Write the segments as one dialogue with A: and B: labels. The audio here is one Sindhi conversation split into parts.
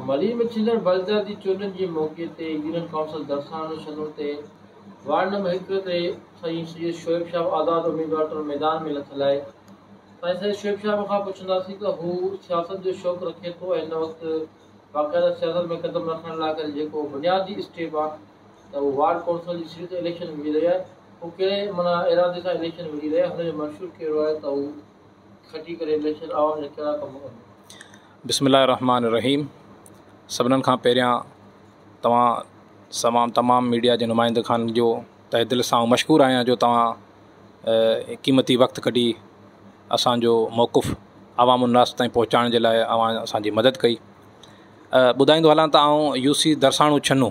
A: مريم ڇلر بلدياتي چونڊن جي موقعي تي يونين ڪائونسل درساڻو شنو تي وارڊ نمبر هڪ تي سائين سيد شعيب شاهه آزاد اميدوار طور ميدان ۾ لٿل آهي سائين سيد شعيب شاهه کان پڇنداسين ته هو سياست جو شوق رکي ٿو ۽ هن وقت باقاعده سياست ۾ قدم رکڻ لاء ڪري جيڪو بنيادي اسٽيپ آهي ته هو وارڊ ڪائونسل جي سيٽ تي اليڪشن وڙهي رهي آهي هو ڪهڙي معنيٰ ارادي سان اليڪشن وڙهي رهي آهي هن جو منشور ڪهڙو آهي ته هو بسم الله الرحمٰن
B: الرحيم سڀنن کان پهريان توهان سوان تمام ميڊيا جي نمائندي خان جو تهه دل سان مشڪور آهيان جو توهان قيمتي وقت ڪڍي اسانجو موقف عوام الناس تائين پهچائڻ جي لاء اوهان اسانجي مدد ڪئي ٻڌائيندو هلان ته آئون يوسي درساڻو ڇنو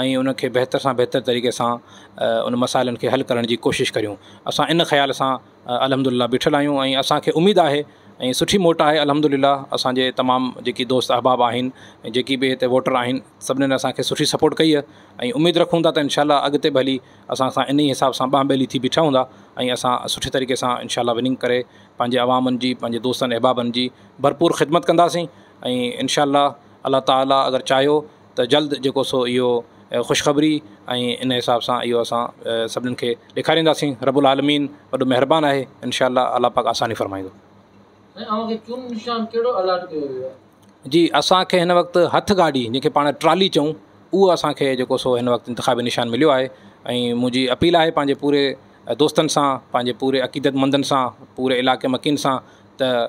B: ۽ ان کي بهتر سان بهتر طريقي سان ان مسائلن کي حل ڪرڻ جي ڪوشش ڪريون اسان ان خيال سان الحمد لله بيٺل آهيون ۽ اسانکي اميد آهي ۽ سٺي موٽ آهي الحمد لله اسانجي تمام جيڪي دوست احباب آهن ۽ جيڪي به هتي ووٽر آهن سڀنن اسانکي سٺي سپورٽ ڪئي آهي ۽ اميد رکون ٿا ته انشاء الله اڳتي به هلي اسان سان انهي حساب سان ٻانهن ٻيلي ٿي بيٺا هوندا ۽ اسان سٺي طريقي سان انشاء الله وننگ ڪري پنهنجي عوامن جي پنهنجي دوستن احبابن جي ڀرپور خدمت ڪنداسين ۽ انشاء الله الله تعالٰي اگر چاهيو ته جلد جيڪو سو اهو خوشخبري ۽ ان حساب سان اهو اسان سڀنن کي ڏيکارينداسين رب العالمين وڏو مهربان آهي انشاء الله الله پاڪ آساني فرمائيندو. سائين اوهان کي چونڊ نشان ڪهڙو الاٽ ڪيو ويو آهي؟ جي اسان کي هن وقت هٿ گاڏي جنهن کي پاڻ ٽرالي چئون اهو اسان کي جيڪو سو هن وقت انتخابي نشان مليو آهي ۽ منهنجي اپيل آهي پنهنجي پوري دوستن سان پنهنجي پوري عقيدت مندن سان پوري علاقي مڪين سان ته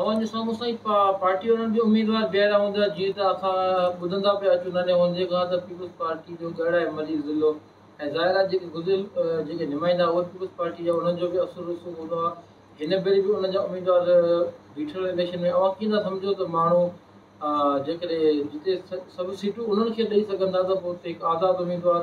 B: اوهان جو سامهون سائين
A: پارٽي وارن به اميدوار بيهاريا هوندا جيئن ته اسان ٻڌندا پيا اچون ننڍي هوندي کان ته پيپلز پارٽي جو ڳڙهه ۽ ملي ضلعو ۽ ظاهر آهي جيڪي گذريل جيڪي نمائندا اهي پيپلز پارٽي جا انهن جو به اثر رسوخ هوندو آهي هن ڀيري به انهن جا اميدوار بيٺل اليڪشن ۾ اوهان ڪيئن ٿا سمجهو ته ماڻهو جيڪڏهن جتي سڀ سيٽون انهن کي ڏئي سگهندا ته پوء اتي هڪ آزاد اميدوار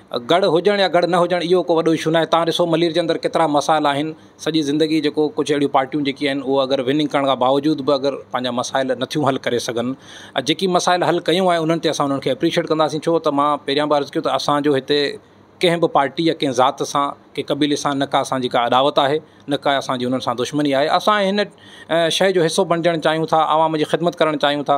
B: گڙ هجڻ يا گڙ نه هجڻ اهو ڪو وڏو اشو ناهي تهان ڏسو ملير جي اندر ڪيترا مسائل آهن سڄي زندگي جيڪو ڪجهه اهڙيون پارٽيون جيڪي آهن اهو اگر وننگ ڪرڻ کان باوجود به اگر پنهنجا مسائل نٿيون حل ڪري سگهن ۽ جيڪي مسائل حل ڪيون آهي انهن تي اسان انهن کي اپريشيئيٽ ڪنداسين ڇو ته مان پهريان به عرض ڪيو ته اسانجو هتي ڪنهن به پارٽي يا ڪنهن ذات سان ڪنهن قبيلي سان نه ڪا اسانجي ڪا اڏاوت آهي نه ڪا اسانجي انهن سان دشمني آهي اسان هن شهر جو حصو بڻجڻ چاهيون ٿا عوام جي خدمت ڪرڻ چاهيون ٿا